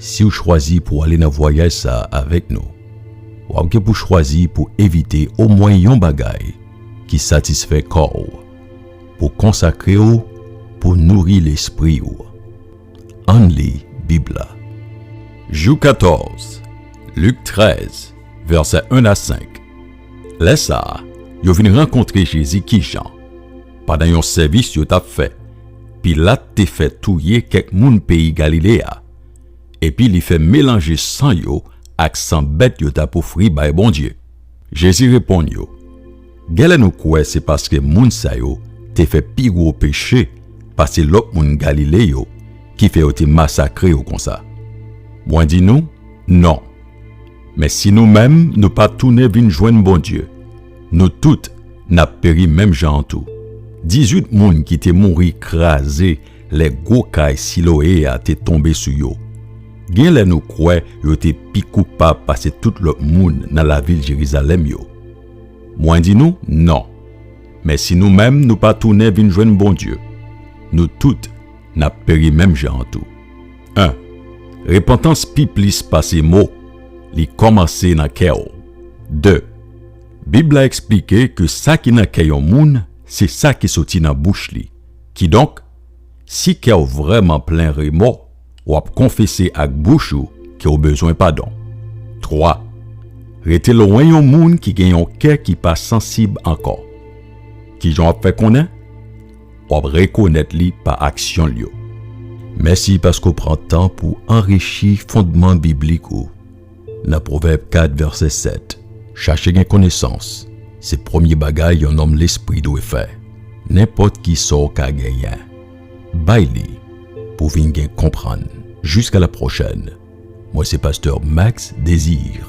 Si w chwazi pou w ale nan vwayaj sa a avèk nou, w ap gen pou chwazi pou evite omwen yon bagay ki satisfè kò w, pou konsakre w pou nouri lespri w. Ann li Bib la. Jou 14, Lik 13, vèsè 1 a 5 Lè sa a, yo vin rankontre Jezi kijan? Pandan yon sèvis yo t ap fè, Pilat te fè touye kèk moun peyi Galile a, epi li fè melanje san yo ak san bèt yo t ap ofri bay Bondye. Jezi reponn yo, Genlè nou kwè se paske moun sa yo te fè pi gwo peche pase lòt moun Galile yo ki fè yo te masakre yo konsa. Mwen di nou, non! Men si nou menm nou pa tounen vin jwenn Bondye, nou tout n ap peri menm jan an tou. Dizuit moun ki te mouri kraze lè gwo kay Siloe a te tonbe sou yo. Gen lè nou kwè yo te pi koupab pase tout lòt moun nan lavil Jerizalèm yo. Mwen di nou, non! Men si nou menm nou pa tounen vin jwenn Bondye, nou tout n ap peri menm jan an tou. 1. Repantans pi plis pase mo, li kòmanse nan kè w. 2. Bib la eksplike ke sa ki nan kè yon moun se sa ki soti nan bouch li. Kidonk, si kè w vrèman plen remò, w ap konfese ak bouch ou ke w bezwen padon. 3. Rete lwen yon moun ki gen yon kè ki pa sansib ankò. Kijan w ap fè konnen? W ap rekonèt li pa aksyon l yo. Mèsi paske w pran tan pou w anrichi fondman biblik ou nan Pwovèb 4 vèsè 7, Chache gen konesans se premye bagay yon nonm lespri dwe fè. Nenpòt ki sa w ka genyen, bay li pou w vin gen konprann. Jiska lapwochèn, mwen se pastè Max Désir.